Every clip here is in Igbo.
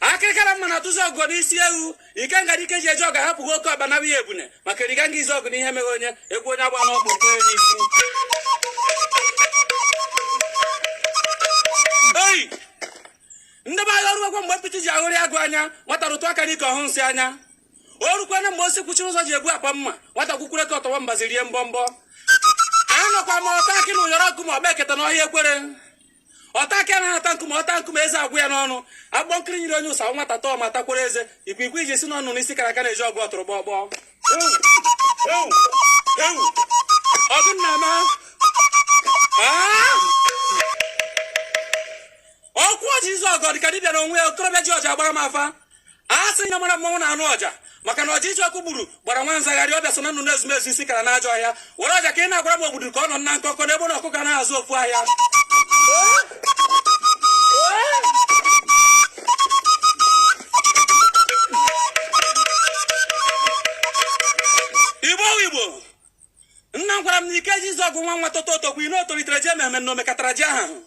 akịrịkara mma na atụzi ọgụ n'isi ewu ikenga dị ike ji eje ọgụ ahapụghị oke ọkpa na ihe ebune maka eriga nga izuogu na iheme onye egwu onye agba n'ọkpụ nke onye n'isi oyi ndị be anyị o rugwo mgbe mpịtị ji ahụrị agụ anya nwata rụtụ aka n'ike ọ hụ nsị anya o rukwana mgbe osi kwuchiri ụzọ ji egbu akpa mma nwata kwukwure ka ọ tọwa mbazi rie mbọ mbọ anọkwa m ọta akị na ụyọrọ ọkụ ma ọ gba eketa n'ọhịa ekwere ọta akị anaghị ata nkume ọ taa nkume eze agwụ ya n'ọnụ agbọ nkiri nyere onye ụsa nwata tọọ ma takwara eze ikwikwii iji si n'ọnụ n'isi kara aka na-eje ọgụ ọtụrụkpọkpọ ọgụ nna m ọkwụ ọja izuogu dịka dibịa na onwe ya okorobịa ji ọja agbara m afa a sị ya mara mmanwụ na-anụ ọja maka na ọja iji ọkụ gburu gbara nwa nzagharị ọbịa so na nnụnụ ezumezu isi kara n'ajọ ọhịa were ọja ka ị na-agwara m obodo ka ọ nọ na nkọkọ na egbe na ọkụkọ anaghị azụ ofu ahịa igbo igbo nna m gwara m na ikeji izuogu nwa nwata too o tokwu ihe o tolitere ji ememe na omekatara ji ahụ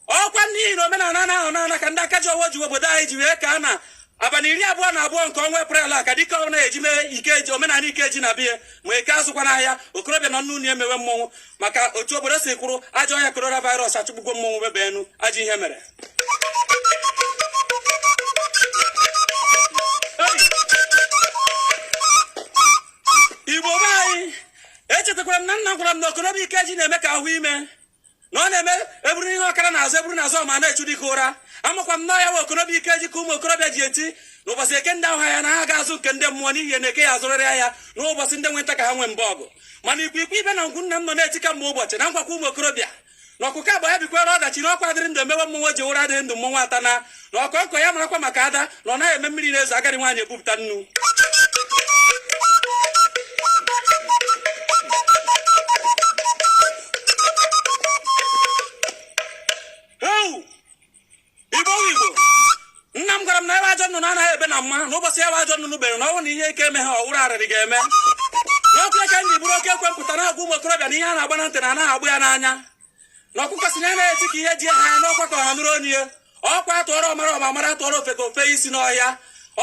ọkwa n'ihi na omenala ahụ na-ana ka ndị aka ji ọfọ ji obodo anyị ji wee kaa na abalị iri abụọ na abụọ nke ọnwa eprel a ka dịka ọ na-eji mee ikeji omenala ikeji na biya ma eke azụkwana ahịa okorobịa nọ n'ụlọ emewe mmọnwụ maka otu obodo si kwụrụ ajọ ọrịa coronavirus achụgbugwo mmọnwụ webe enu ajọ ihe mere igbo be anyị echetakwara m na nna gwara m na okorobịa ikeji na-eme ka ahụ ime na ọ na-eme eburu ihe ọkara n'azụ eburu n'azụ ọma na-echu dịka ụra amakwa m na ya nwa okorobịa ikeji ka ụmụ okorobịa ji eti n'ụbọchị eke ndị ahụ ya na ha ga-azụ nke ndị mmụọ n'ihi na eke ya azụrịrị ahịa n'ụbọchị ndị nweta ka ha nwee mba ọgụ mana ikwikwii ibe na ngwu nna m nọ na-eti ka mgbe ụbọchị na nkwọ ka ụmụ okorobịa na ọkụkọ agba ya bikwara ọdachi na ọkwa a dịrị ndụ emewe mmọnwụ ji ụra dịrị ndụ mmọnwụ ata na na ọkọ nkọ ya marakwa maka ada na ọ naghị eme mmiri na-ezo agadi nwaanyị ebupụta nnu igbo nna m gwara m na ebe ajọ nnụnụ anaghị ebe na mma na ụbọchị ya bụ ajọ nnụnụ bere na ọnwụ na ihe ike emeha ọ wụrụ arịrị ga-eme n'ọkụ ya ka ndị bụrụ oke ekwe mpụta na-agwa ụmụ okorobịa na ihe a na-agba na ntị na anaghị agba ya n'anya na ọkụkọ sị na anaghị eti ka ihe ji ya haa ya na ọkwa ka ọha nụrụ onu ya ọkwa atụọrọ ọmara ọma mara atụọrọ ofeke o fee isi n'ọhịa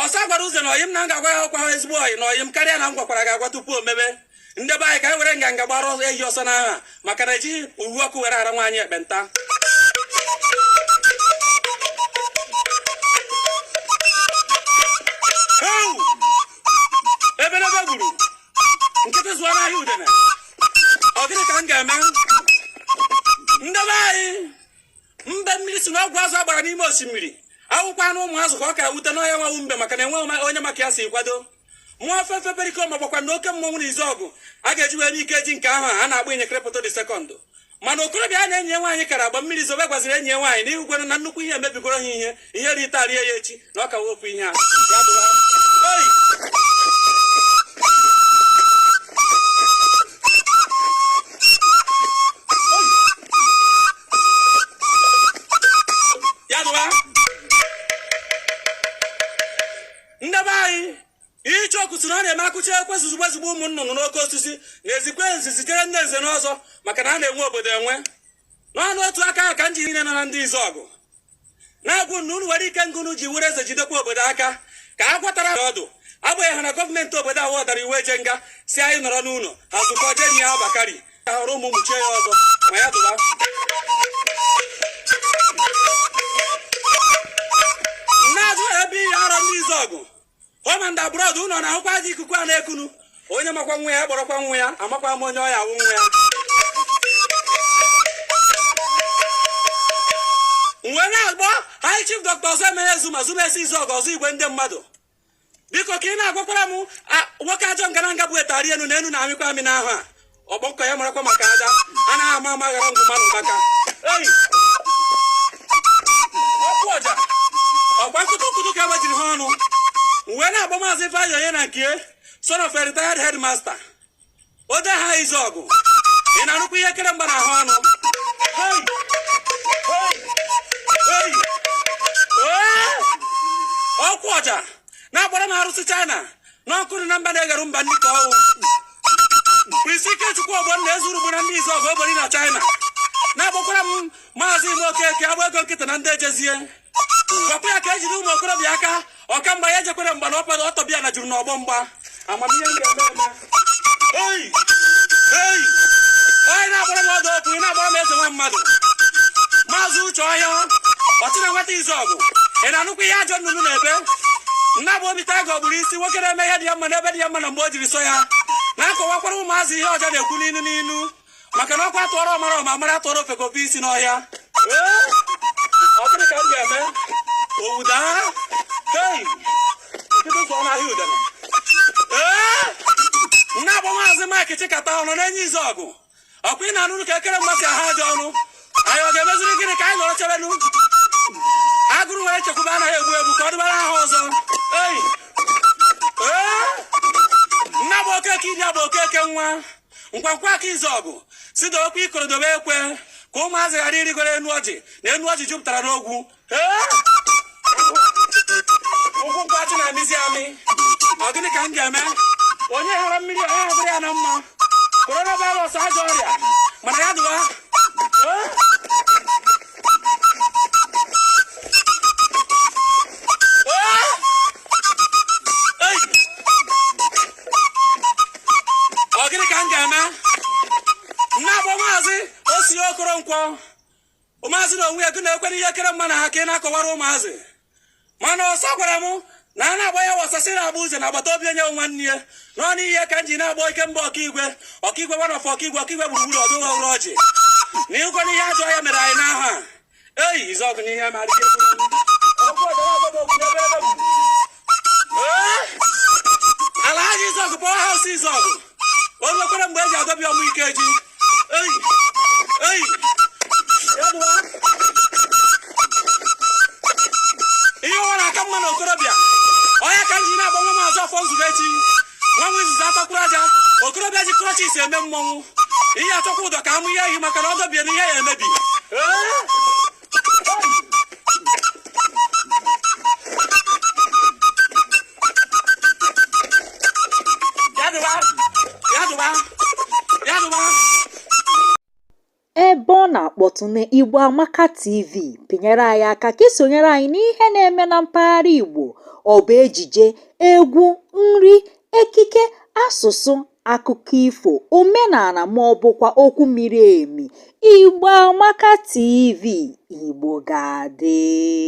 ọsa gwara uze na ọyị m na m ga-agwa ya ọkwa ha ezigbo ọyị na ọyị m karịa na m gwakwara gị agwa tupu o mebe ndị be anyị ka anyị were nganga gbara ehi ọsọ n'aha maka na ejighị uwe ọkụ were ara nwaanyị ekpenta Ewu! ebelebe gburu nkịtị zụọ n'ahịa udene ọ gịnị ka m ga-eme ndị be anyị mbe mmiri sị na ọgwụ azụ a gbara n'ime osimiri ekwukwana ọ ụmụ azụ ka ọ ka wute na ọ ya nwa wụ mbe maka na enweghị onye ma ka ya si kwado mmụọ fefe Pericoma gbakwa na oke mmọnwụ na Izuọgụ a ga-eji were Ikeji nke ahụ a na-akpọ ịnyekrepụta the Second mana okorobịa na enyi ya nwaanyị kara agba mmiri zobe gwaziri enyi ya nwaanyị na ị hụkwara na nnukwu ihe emebigoro ha ihe ihe ri taa rie ya echi na ọ ka wepụ ihe a ya bụ oyi ya dụwa nde be anyị icheoku sị na ọ na-eme akụcha ekwe zuzugbe zugbe ụmụ nnụnụ n'oke osisi na-ezikwa nzi zitere ndị nze na ọzọ maka na a na-enwe obodo enwe n'ọnụ otu aka ahụ ka ndị niile nọ na ndị Izuọgụ na-agwa unu na unu nwere ike ngụnụ ji were eze jidekwa obodo aka ka a gwatara ọdụ agbanyeghị na gọọmenti obodo ahụ ọdara iwu eje nga sị anyị nọrọ n'ụlọ ha zụkọ jeni ya Bakari ka hụrụ ụmụ mụchie ya ọzọ ma ya dụba na-azụ ebe ihe Arọ ndị Izuọgụ home and abroad unu na-ahụkwa ajọ ikuku a na-ekunu onye makwa nwa ya kpọrọkwa nwa ya amakwa m onye ọ ya-awụ nwa ya mgbe m na-agba High Chief Dr Ọzọemena Ezuma Ezuma esi Izuọgụ ọzụ igwe ndị mmadụ biko ka ị na-agbakwara m nwoke ajọ ngaranga bụ etari enu na enu na-amịkwa amị n'ahụ a ọgbọkọ ya marakwa maka aja a naghị ama ama ghara ngwụ mmanụ maka ọkụ ọja ọkwa nkụtụnkụtụ ka agbajiri ha ọnụ mgbe m na-agba maazị Ifeanyi onye na nke son of a retired headmaster ode ha Izuọgụ ị na-anụkwa ihe kere mgba n'ahụ ọnụ ọkụ ọja na-agbara m arụsị China n'ọkụ dị na mba na-eghere mba nri ka ọ wụ Prince Ikechukwu Ogbonna ezuru bụ na ndị Izuọgụ ogbori na China na-agbakwara m maazị Ime Okeke agba ego nkịta na ndị ejezie gwakwa ya ka ejiri ụmụ okorobịa aka ọkamgba ya ejekwere mgba na ọkpara ọtọbịa na juru n'ọgbọ mgba amamihe m ga-eme eme ei ei onye na-agbara m ọdụ okwu ị na-agbara m eze nwa mmadụ maazị Uche Ọhịa ọchị na nwata ọgụ ị na-anụkwa ihe ajọ nnụnụ na-ebe m na-agba Obi Tiger ogburu isi nwoke na-eme ihe dị ya mma n'ebe dị ya mma na mgbe o jiri sọ ya na-akọwakwara ụmụazị ihe ọja na-ekwu n'inu n'inu maka na ọkwa a tụọrọ ọmara ọma mara tụọrọ ofeke o fee isi n'ọhịa Ee, ọ gịnị ka m ga-eme owu daa hei nkịtị zụọ n'ahịa udene ee m na-agba maazị Mike Chikata Ọnọnenyi Izuọgụ ọkwa ị na-anụrụ ka ekere mmasị ahụ ajọ ọnụ anyị ọ ga-emeziri gịnị ka anyị nọrọ chebenụ agụrụ nwere nchekwube anaghị egbu egbu ka ọ dịbara ha ọzọ ei ee nna bụ okeke iri abụ okeke nwa ngwangwa aka izu ọgụ sị dokwa ikoro dobe ekwe ka ụmụazị ghara irigoro enu ọjị na enu ọjị jupụtara n'ogwu ụkwụ nkwachị na-amịzi amị ọ gịnị ka m ga-eme onye hụrụ mmiri onye hụrụ ya na mma coronavirus ajọ ọrịa mana ya dụwa ọ gịnị ka m ga-eme nna agba maazị osi okoronkwọ ụmụazị na onwe ya gị na-ekwere ihe ekere mgba na-aha ka ị na-akọwara ụmụazị mana ọsa gwara m na a na-agba ya wa ọsa sị na-agba uze na agbata obi onye nwanne ya n'ọnụ ihe ka m ji na-agba ike mgba ọkaigwe ọkaigwe gwana ọfọ ọkaigwe ọkaigwe gburugburu ọdụ ụwa ụrụ ọjị na ịgwa n'ihe ajọ ya mere anyị n'ahụ a eyi izu ọgụ n'ihe ma ala ha izu ọgụ pọwa haus izu ọgụ o nwekwara mgbe e ji adọbi ọmụ ike ji eyi eyi ya dụwa ihe ụwa na-aka mma na okorobịa onye ka m ji na-agba nwa maazị ọfọ nzubechi nwa m izuzu atakwuru aja okorobịa ji krọchis eme mmọnwụ ihe achọkwa ụdọ ka amụ ihe ehi maka na ọ dọbie na ihe ya emebi na-akpọtụ na Igbo Amaka TV pịnyere anyị aka ka i sonyere anyị n'ihe na-eme na mpaghara Igbo ọ bụ ejije egwu nri ekike asụsụ akụkọ ifo omenala ma ọ bụkwa okwu miri emi igbo amaka tv igbo ga-adị